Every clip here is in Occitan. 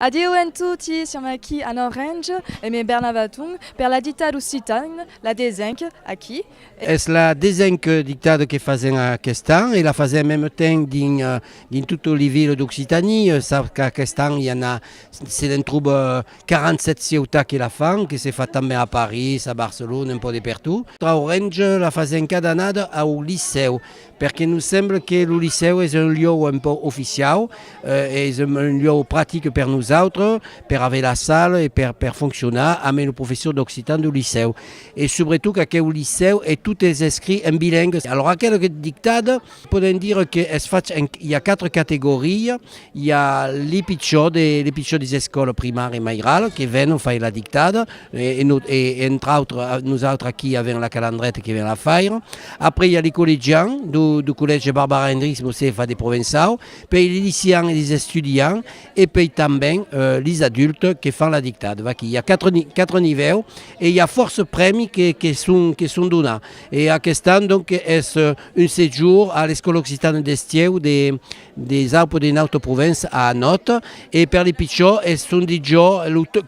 Adieu en toti, siam aquí en Orange, e me Bernard Vatung, per la dictada occitane, la desenc, aquí, e. Es la desenc dictada que fasèm aquest an, e la fasèm mème temps dins totes li viles d'Occitanie, sap qu'aquest an i a na, se n'en troba 47 cieutats que la fan, que se fa tanben a Paris, a Barcelona, un pò de pertot. Orange la fasèm cada annada au licèu. perque nos semble que lo licèu es un lieu un pauc oficiau, es un lieu pratic per nosautres, per aver la sala e per per foncionar ambe lo professor d'occitan deu licèu. E subretot qu'aqueu licèu es tot es escrit en bilengue. Alòra aquela dictada podem dire qu'es fach en i a quatre categoria, I a li pichò de li pichò des escòla primària Mairal que vèn fai la dictada e no e entre autres nosautres aquí avèm la calandreta que vèn la faire. Après i a li collegian do do collège Barbara Hendricks Mosefa de Provençau, pei li lycéan e li estudian e pei tanben li adultes que fan la dictada. Vaquí i a quatre ni quatre nivèu e i a fòrça prèmi que que son que son donà. E aquest an donc es un sejour a l'escòla occitana d'Estieu de Des aupres de nautre provença a Anòt, e per li pichor es son dit jo,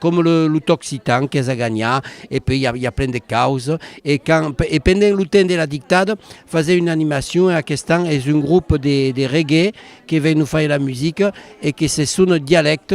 com lo t'occitan qu'es a ganhar, e pui i a plen de caus, e quand e pendent lo temps de la dictad fasè una animacion e aquest an es un grup de reggae que ven nos faire la musica e que s'es son dialèct.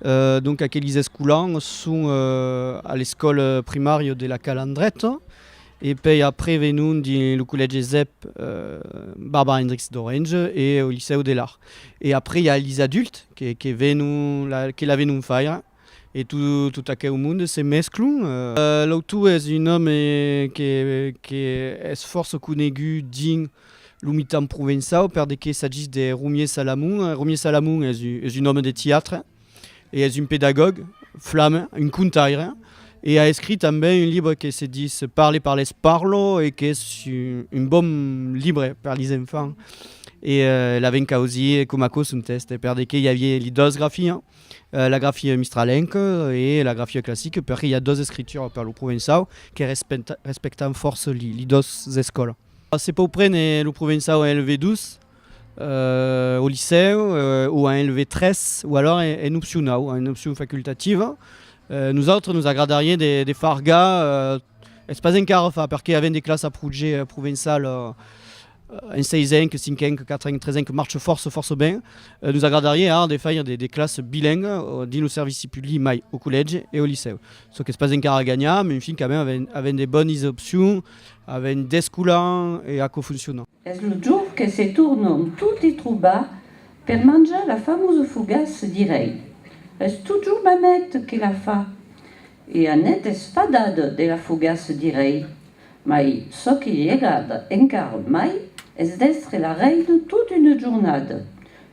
Donc aquelis escolans son a l'escòl primària de la Calandreta e pei après venon dins lo collège Zep Barbara Hendricks d'Orange e au licèu de l'Arc. E après i a lis adultes que que venon la que la venon faire e to tot aqueu monde se mesclon. L'autor es un òme que que es fòrça conegut dins Lo mitan provençau per de qué s'agís de Romier Salamon. Romier Salamon es un òme de tiatre e es un pedagòg flame, un contaire e a escrit tanben un libre que se dis Parle, parles, parlo e qu'es un bon libre per lis enfants e l'avèn causir coma aquò son tèxte per de qué i avié li dos grafias, la grafia mistralenca e la grafia classica perque i a dos escrituras per lo provençau que respectan fòrça li dos escòlas. Se pòu prene lo provençau en LV2 au licèu o en LV3 o alòra en opcionau, en opcion facultativa. Nosautres nos agradariá de far ga, es pas encara fach perque avèm de classa proje provençal en seisenc, cinquenc, quatrenc, tresenc que marche fòrça fòrça ben. Nos agradariá ara de faire de classes bilingues dins lo servici public mai au collège e au licèu. Çò qu'es pas encara ganhat, mais enfin quand même avèm de bones opcions Avèm descolant e aquò fonciona. Es lo jorn que se tornam toti trobar per manjar la famosa fogaça, dirèi. Es totjorn ma maît que la fa. E anèt espadada de la fogaça, dirèi. Mai çò que li agrada encara mai es d'èstre la reina tota una jornada.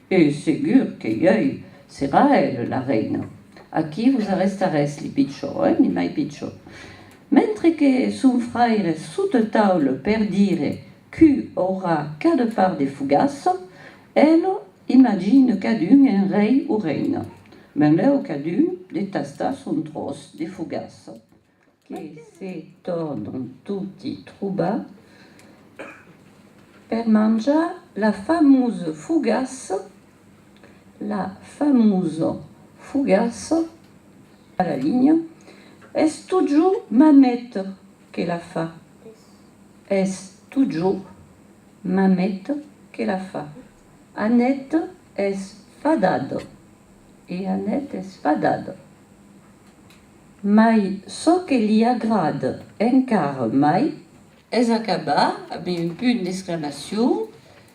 E segur que ieu serà ela la reina. Aquí vos arrestarètz li pichons, eh, ni mai pichons. Mentre que son fraire sot el taule per dire qu' aurà qu'a de far de fogasso, el imagine cadun en rei o reina. Benlèu cadun de tastar son tròç de fogasso, que se tornan toti trobar per manjar la famose fogasso La famosa fogassa a la linha es totjor ma maita que la fa. Es totjor ma maita que la fa. Anèt es fadada e anèt es fadada. Mai çò que li agrada encara mai. Es acabar amb un punt d'exclamacion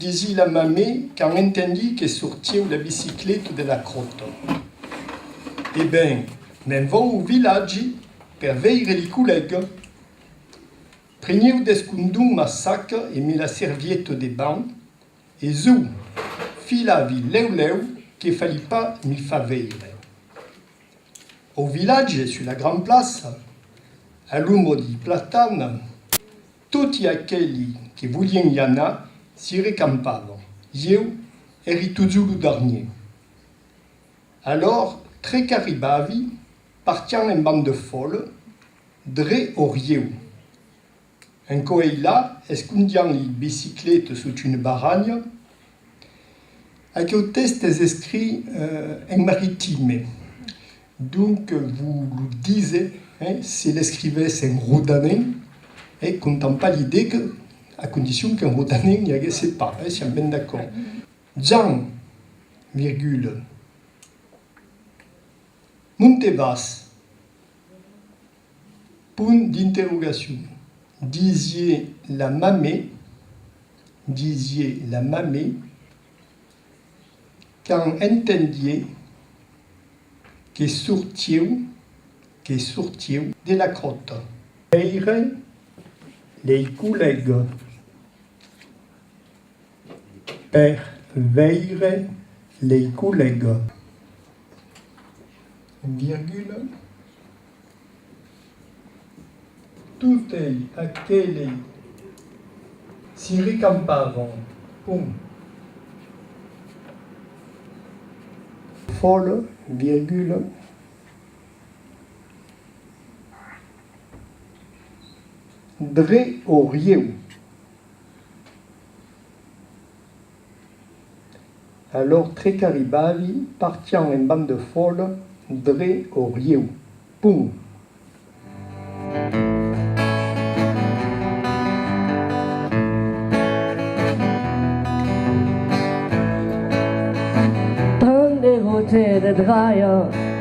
Desi la mamè quand entendi que sortieu la bicicleta de la crota. E ben, me'n vau au vilatge per veire li collèga. Prenieu descondon ma saca e me la servieta de ban e zòu, filavi lèu lèu que fali pas mi fa veire. Au vilatge, sus la gran plaça, a l'ombra di platana, Toti aqueli que volien i anar s'i recampavan. Ieu èri totjor lo darnier. Alòr, tre qu'arribavi, partián en band de fòle, dre au rieu. En coeilà, escondián li biciclete sot une barranha. Aqueu tèxt es escrit en maritime. Donc vos lo dise, se l'escrivesse en rodanenc, contampa l'idee que, a condicion qu'en rodanenc n'i aguesse pas, siam ben d'acòrd. Jan, virgule, non te vas? punt d'interrogacion. Disie la mamè, disie la mamè. Quand entendie que sortieu, que sortieu de la cròta. Veire lei collègues per veire lei collègues, virgula. Totei aquelei si recampavon, pont. Fòl, virgula, dre o rieu. Alòr tre qu'arribavi, partián en band de fòla dre au rieu. Pum! Tant de rote de dralha.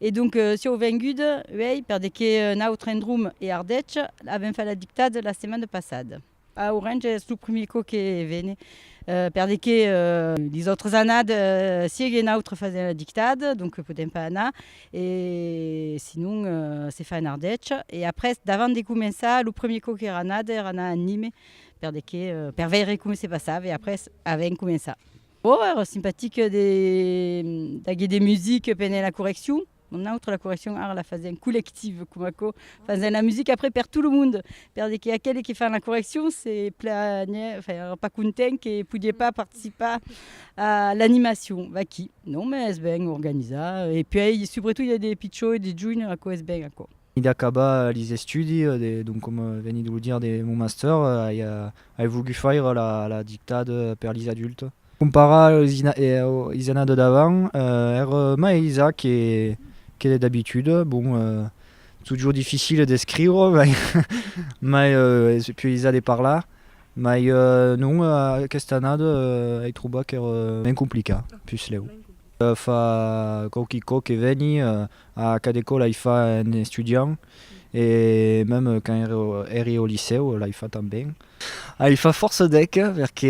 E donc sieu vengut uèi per de que un autre endrome e Ardèche avèm fait la dictade la setmana passada. A Orange es lo primier còp que vene per de que les autres annades siege un autre fasent la dictade donc podèm pas anar e sinon se fa en Ardèche e après davant de començar lo primier còp qu'èra anada èra anar a Nîmes per de que per veire coma se passava e après avèm començat. Bon, era simpatic de d'aguer de music pendent la correccion. Nòstre la correccion ara la fasèm collective, coma aquò, fasèm la music après per tot lo monde, per de que aqueli que fan la correccion se plànher, enfin, èra pas content que podie pas participar a l'animacion. Vaquí, non, mès es ben organizar, e puèi subretot i a de pichons e de joinhs, aquò es ben aquò. Venid acabar lis estudis, donc coma venid lo dire de mon master, ai Ai vogut faire la dictade per lis adultes. Comparar es anar de davant, er mai aisat que d'abitude, bon, totjor difficile d'escriure, mai es piu aisat de parlar, mai non, aquesta annada ai trobat qu'ère mens complicat, puslèu. Fa quauqui còp que veni a cada ecòla, i fa un estudiant, E mèm quand ère, ère au licèu, l'ai fa tanben. Ai fa fòrça dèc, perque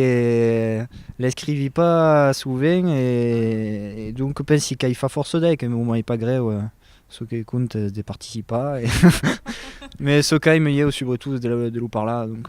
l'escrivi pas sovent e donc pensi qu'ai fa fòrça dèc, e m'ai pas grèu, çò que compte es de participar e mès çò qu'aime ieu subretot es de lo parlar donc.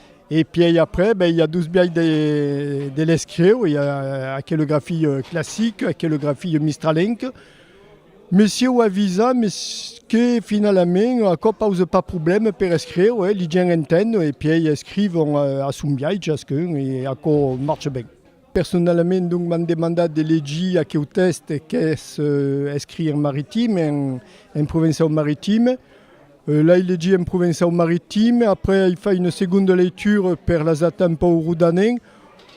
E pièi après ben i a dos biais de de l'escrieu, i a aquele grafilh classic, aquele grafilh mistralenc. Messieu avisa mes que finalament aquò pause pas problème per escrieu, eh, li gents entenn e pièi escrivon a son biais chasqu'un e aquò marche ben. Personalament donc m'an demandat de legir aqueu tèxte qu'es escrit en maritim, en provençau maritim. L'ai legit en provençau maritim, après ai fai una segonda leitura per lasatar un pauc rodanent.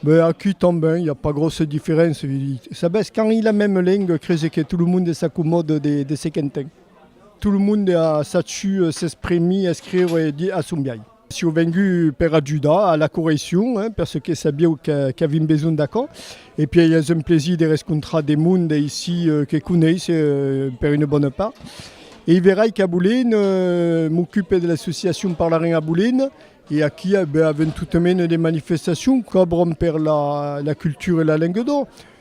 Be aquí tanben i a pas gròssa diferéncia, vi dit. Sabètz, quand i la mème lenga crese que tot lo monde s'acomòda de ce qu'entén. Tot lo monde a sachiu s'exprimir, escriure e dire a son biais. Siu vengut per ajudar a la correccion perce que sabieu qu'avim besonh d'aquò e pièi es un plaisir de rescontrar de monde aicí que coneis per una bona part e i verai qu'a Bolin m'ocupe de l'associacion Parlarem a Bolin e aquí avem totament de manifestacion qu'obron per la cultura e la lenga d'oc.